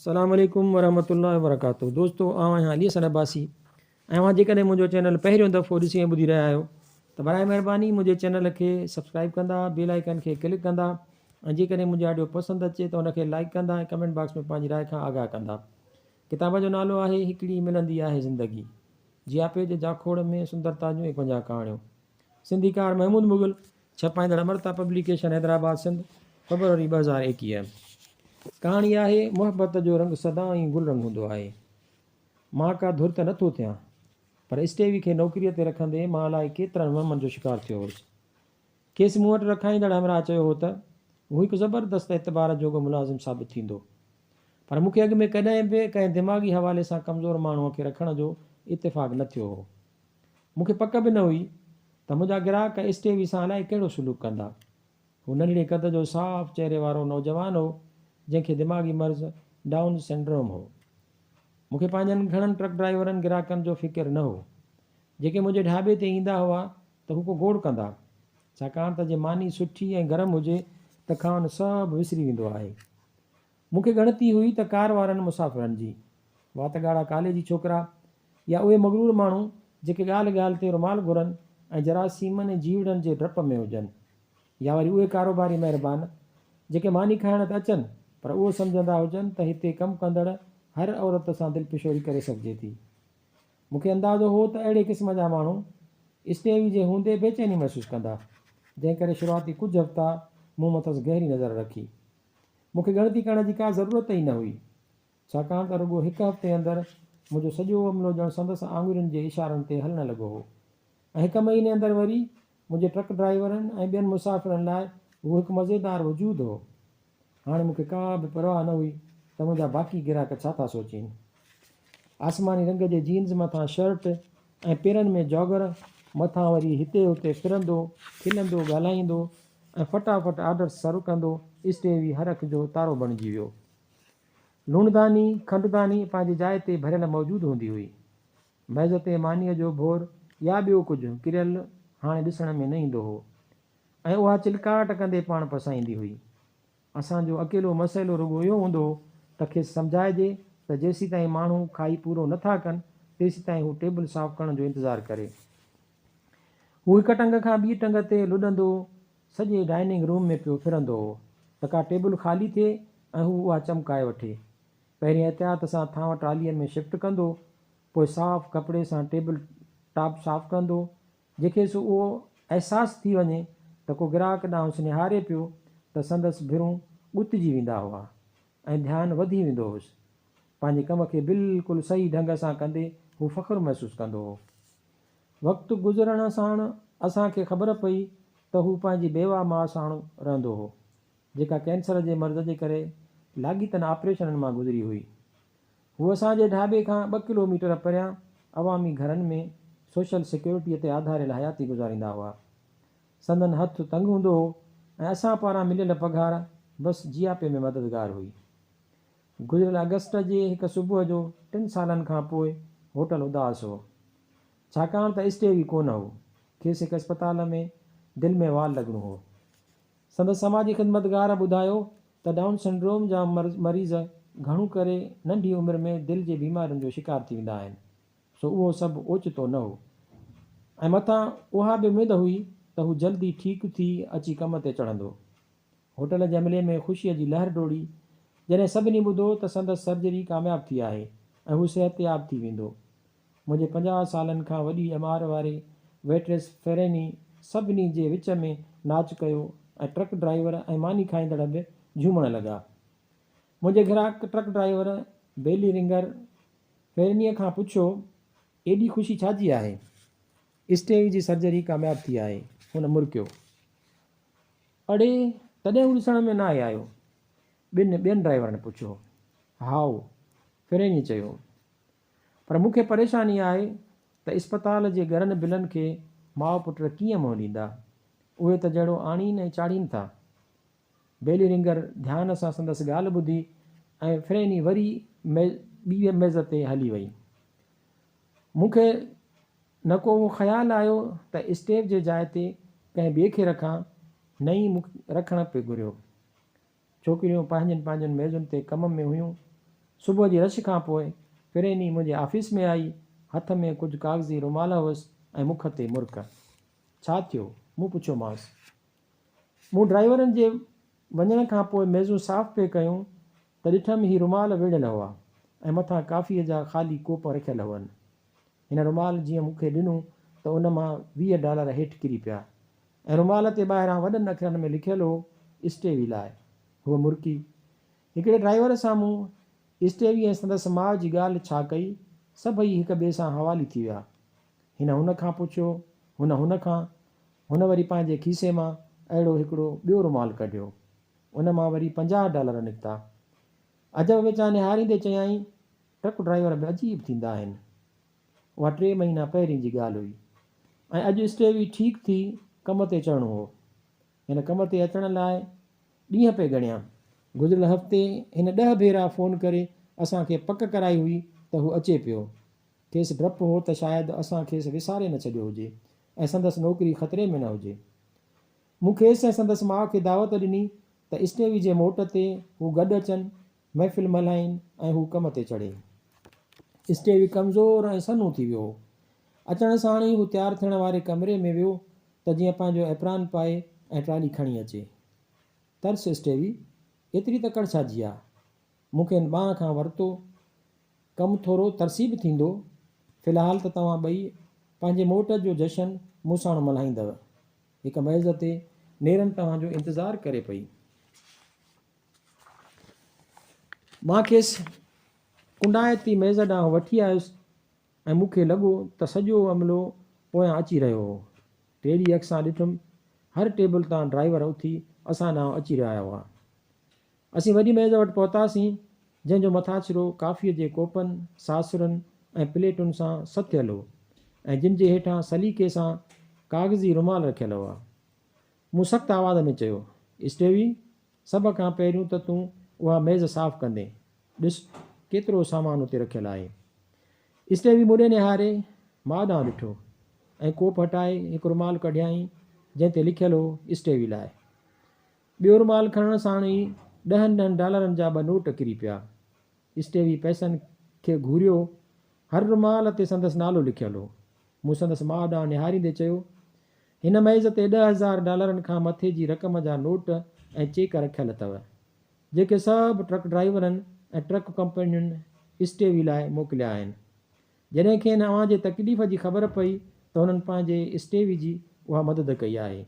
سلام عليڪم ورحمة الله وبرڪاته دوستو آئون آهيان علي حسن عباسي ۽ اوهان جيڪڏهن منهنجو چينل پهريون دفعو ڏسي ۽ ٻڌي رهيا آهيو ته براء مهرباني منهنجي چينل کي سبسڪرائب ڪندا بيل آئيڪن کي ڪلڪ ڪندا ۽ جيڪڏهن منهنجي آڊيو پسند اچي ته ان کي لائيڪ ڪندا ۽ ڪمينٽ باڪس ۾ پنهنجي راء کان آگاهه ڪندا ڪتاب جو نالو آهي هڪڙي ملندي آهي زندگي جياپي جي جاکوڙ ۾ سندرتا جون ايڪونجاهه ڪهاڻيون سنڌيڪار محمود مغل ڇپائيندڙ امرتا پبليڪيشن حيدرآباد سنڌ، فيبروري ٻه هزار ايڪيهه، ڪهاڻي آهي، محبت جو رنگ سدائين گل رنگ هوندو آهي. مان ڪا ڌر ته نه ٿو ٿيان، پر اسٽيوي کي نوڪريء تي رکندي مان الائي ڪيترن وهمن جو شڪار ٿيو هوس. کيس مون وٽ رکائيندڙ همراهه چيو هو ته هو هڪ زبردست اعتبار جوڳو ملازم ثابت ٿيندو. پر مون کي اڳ ۾ ڪڏهن به ڪنهن دماغي حوالي سان ڪمزور ماڻهوء کي رکڻ جو اتفاق نه ٿيو هو. مون کي پڪ به نه هئي ته منهنجا گراهڪ ايس ٽي وي سان الائي ڪهڙو سلوڪ ڪندا. هو ننڍڙي قد جو صاف چهري وارو نوجوان هو، جنهن کي دماغي مرض ڊائون سنڊروم هو. مون کي پنهنجن گهڻن ٽرڪ ڊرائيورن گراهڪن جو فڪر نه هو. جيڪي منهنجي ڍابي تي ايندا هئا ته هو ڪو گوڙ ڪندا، ڇاڪاڻ ته جي ماني سٺي ۽ گرم هجي ته کانئن سڀ وسري ويندو آهي. مون کي ڳڻتي هئي ته ڪار وارن مسافرن جي، وات ڳاڙها ڪالي جي ڇوڪرا يا اهي مغرور ماڻهو جيڪي ڳالهه ڳالهه تي رومال گهرن ۽ جراثيمن ۽ جيوڙن جي ڊپ ۾ هجن يا وري اهي ڪاروباري مهربان جيڪي ماني کائڻ ته اچن پر اهو سمجهندا هجن ته هتي ڪم ڪندڙ هر عورت سان دلپشوري ڪري سگهجي ٿي. مون کي اندازو هو ته اهڙي قسم جا ماڻهو استيوي جي هوندي بيچيني محسوس ڪندا جنهن ڪري شروعاتي ڪجهه هفتا مون مٿس گهري نظر رکي. مون کي ڳڻتي ڪرڻ جي ڪا ضرورت ئي نه هئي، ڇاڪاڻ ته رڳو هڪ هفتي اندر منهنجو سڄو عملو ڄڻ سندس آڱرين جي اشارن تي هلڻ لڳو هو ۽ هڪ مهيني اندر وري منهنجي ٽرڪ ڊرائيورن ۽ ٻين مسافرن لاء هو هڪ مزيدار وجود هو. هاڻي مون کي ڪا به پرواهه نه هئي ته منهنجا باقي گراهڪ ڇا ٿا سوچين. آسماني رنگ جي جينز مٿان شرٽ ۽ پيرن ۾ جاگر، مٿان وري هتي هتي ڦرندو، کلندو، ڳالهائيندو ۽ فٽافٽ آرڊرس سرو ڪندو اسٽيوي هر اک جو تارو بڻجي ويو. لوڻداني، کنڊداني پنهنجي جاء تي ڀريل موجود هوندي هئي. ميز تي مانيء جو ڀور يا ٻيو ڪجهه ڪريل هاڻي ڏسڻ ۾ نه ايندو هو ۽ اها چلڪاٽ ڪندي پاڻ پسائيندي هئي. اسان جو اڪيلو مسئلو رڳو اهو هوندو هو ته کيس سمجهائجي ته جيسيتائين ماڻهو کائي پورو نه ٿا ڪن تيسيتائين هو ٽيبل صاف ڪرڻ جو انتظار ڪري. هو هڪ ٽنگ کان ٻي ٽنگ تي لڏندو سڄي ڊائننگ روم ۾ پيو ڦرندو هو ته ڪا ٽيبل خالي ٿئي ۽ هو اها چمڪائي وٺي. پهرين احتياط سان ٿانء ٽالهين ۾ شفٽ ڪندو، پوء صاف ڪپڙي سان ٽيبل ٽاپ صاف ڪندو جنهن کيس اهو احساس ٿي وڃي ته ڪو گراهڪ ڏانهس نهاري پيو ته سندس ڀرون ڳتجي ويندا هئا ۽ ڌيان وڌي ويندو هوس. پنهنجي ڪم کي بلڪل صحيح ڍنگ سان ڪندي هو فخر محسوس ڪندو هو. وقت گذرڻ ساڻ اسان کي خبر پئي ته هو پنهنجي بيوه ماء ساڻ رهندو هو، جيڪا ڪينسر جي مرض جي ڪري لاڳيتن آپريشنن مان گذري هئي. هو اسان جي ڍاٻي کان ٻه ڪلو ميٽر پريان عوامي گهرن ۾ سوشل سيڪيورٽيء تي آڌاريل حياتي گذاريندا هئا. سندن هٿ تنگ هوندو هو ۽ اسان پاران مليل پگهار بس جياپي ۾ مددگار هئي. گذريل آگسٽ جي هڪ صبح جو ٽن سالن کان پوء هوٽل اداس هو. ڇاڪاڻ ته اسٽيو ئي ڪونه هو. کيس هڪ اسپتال ۾ دل ۾ وال لڳڻو هو. سندس سماجي خدمتگار ٻڌايو ته ڊائون سنڊروم جا مريض گهڻو ڪري ننڍي عمر ۾ دل جي بيمارين جو شڪار ٿي ويندا آهن سو اهو سڀ اوچتو نه هو ۽ مٿان اها به اميد هئي ته هو جلدي ٺيڪ ٿي اچي ڪم تي چڙهندو. هوٽل جي عملي ۾ خوشيء جي لهر ڊوڙي جڏهن سڀني ٻڌو ته سندس سرجري ڪامياب ٿي آهي ۽ هو صحتياب ٿي ويندو منهنجي پنجاهه سالن کان وڏي ڄمار واري ويٽريس فيريني سڀني جي وچ ۾ ناچ ڪيو ۽ ٽرڪ ڊرائيور ۽ ماني کائيندڙ به جهومڻ لڳا. منهنجي گراهڪ ٽرڪ ڊرائيور بيلي رنگر فيرينيء کان پڇيو، ايڏي خوشي ڇا جي آهي؟ اسٽيوي جي سرجري ڪامياب ٿي آهي. هن مرڪيو. اڙي، تڏهن هو ڏسڻ ۾ ناهي آيو؟ ٻن ٻين ڊرائيورن پڇيو. هائو، فيرينيء چيو. پر مون کي پريشاني آهي ته اسپتال جي گرن بلن کي ماء پٽ ڪيئن منهن ڏيندا؟ اهي ته جهڙو آڻين ۽ چاڙهين ٿا. بيلرنگر ڌيان سان سندس ڳالهه ٻڌي ۽ فريني وري ٻيء ميز تي هلي وئي. مون کي نه ڪو اهو خيال آيو ته اسٽيو جي جاء تي ڪنهن ٻئي کي رکان، نه ئي مون کي رکڻ پئي گهريو. ڇوڪريون پنهنجين پنهنجين ميزن تي ڪم ۾ هيون. صبح جي رش کان پوء فريني منهنجي آفيس ۾ آئي. هٿ ۾ ڪجهه ڪاغذي رومال هئس ۽ مک تي مرڪ. ڇا ٿيو؟ مون پڇيومانس. مون ڊرائيورن جي وڃڻ کان پوء ميزون صاف پئي ڪيون ته ڏٺم هي رومال ويڙهيل هئا ۽ مٿان ڪافيء جا خالي ڪوپ رکيل هئن. هن رومال جيئن مون کي ڏنو ته ان مان ويهه ڊالر هيٺ ڪري پيا ۽ رومال تي ٻاهران وڏن اکرن ۾ لکيل هو اسٽي وي لاء هوء مرڪي. هڪڙي ڊرائيور سان مون اسٽي وي ۽ سندس ماء جي ڳالهه ڇا ڪئي، سڀئي هڪ ٻئي سان حوالي ٿي ويا. هن هن کان پڇيو، هن هن کان، هن وري پنهنجي کيسي مان اهڙو هڪڙو ٻيو رومال ڪڍيو. ان مان وري پنجاهه ڊالر نڪتا. عجب وچان نهاريندي چيائين، ٽرڪ ڊرائيور به عجيب ٿيندا آهن. اها ٽي مهينا پهرين جي ڳالهه هئي ۽ اڄ اسٽيوي ٺيڪ ٿي ڪم تي چڙهڻو هو. هن ڪم تي اچڻ لاء ڏينهن پئي ڳڻيا. گذريل هفتي هن ڏهه ڀيرا فون ڪري اسان کي پڪ ڪرائي هئي ته هو اچي پيو. کيس ڊپ هو ته شايد اسان کيس وساري نه ڇڏيو هجي ۽ سندس نوڪري خطري ۾ نه هجي. مون کيس ۽ سندس ماء کي دعوت ڏني ته اسٽيوي جي موٽ تي هو گڏ اچن محفل ملهائين ۽ هو ڪم تي چڙهي. اسٽيوي ڪمزور ۽ سنهون ٿي ويو هو. اچڻ ساڻ ئي هو تيار ٿيڻ واري ڪمري ۾ ويو ته جيئن پنهنجو ايپران پائي ۽ ٽرالي کڻي اچي. ترس اسٽيوي! ايتري تڪڙ ڇا جي آ؟ مون کي هن ٻانهن کان ورتو. ڪم ٿورو ترسي به ٿيندو. في الحال ته توهان ٻئي پنهنجي موٽ جو جشن مون ساڻ ملهائيندؤ. هڪ ميز تي نيرن توهان جو انتظار ڪري پئي. مان کيس ڪنڊائتي ميز ڏانهن وٺي آيس ۽ مون کي لڳو ته سڄو عملو پويان اچي رهيو هو. ٽيڙي اک سان ڏٺم. هر ٽيبل تان ڊرائيور اٿي اسان ڏانهن اچي رهيا هئا. اسين وڏي ميز وٽ پهتاسين، جنهن جو مٿاڇرو ڪافيء جي ڪوپن، ساسرن ۽ پليٽن سان سٿيل هو ۽ جن جي هيٺان سليقي سان ڪاغذي رومال رکيل هئا. مون سخت آواز ۾ چيو، اسٽيوي، سڀ کان پهريون ته تون اها ميز صاف ڪندين. ڏس، ڪيترو سامان اتي رکيل آهي. اسٽيوي مون ڏي نهاري ماء ڏانهن ڏٺو ۽ ڪوپ هٽائي هڪ رومال ڪڍيائين جنهن تي لکيل هو اسٽيوي لاء. ٻيو رومال کڻڻ ساڻ ئي ڏهن ڏهن ڊالرن جا ٻه نوٽ ڪري پيا. اسٽيوي پئسن کي گهوريو. هر رومال تي سندس نالو لکيل هو. مون سندس ماء ڏانهن نهاريندي چيو، هن ميز تي ڏهه هزار ڊالرن کان مٿي جي رقم جا نوٽ ۽ چيڪ رکيل اٿئو، جيڪي سڀ ٽرڪ ڊرائيورن ۽ ٽرڪ ڪمپنين اسٽيوي لاء موڪليا آهن. جڏهن کين اوهان جي تڪليف جي خبر پئي ته هنن پنهنجي اسٽيوي جي اها مدد ڪئي آهي.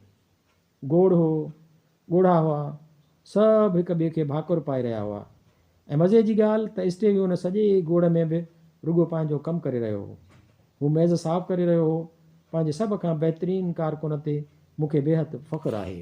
گوڙ هو، ڳوڙها هئا، سڀ هڪ ٻئي کي ڀاڪر پائي رهيا هئا ۽ مزي جي ڳالهه ته اسٽيوي ان سڄي گوڙ ۾ به رڳو پنهنجو ڪم ڪري رهيو هو. هو ميز صاف ڪري رهيو هو، پنهنجي سڀ کان بهترين ڪارڪن تي مون کي بيحد فخر آهي.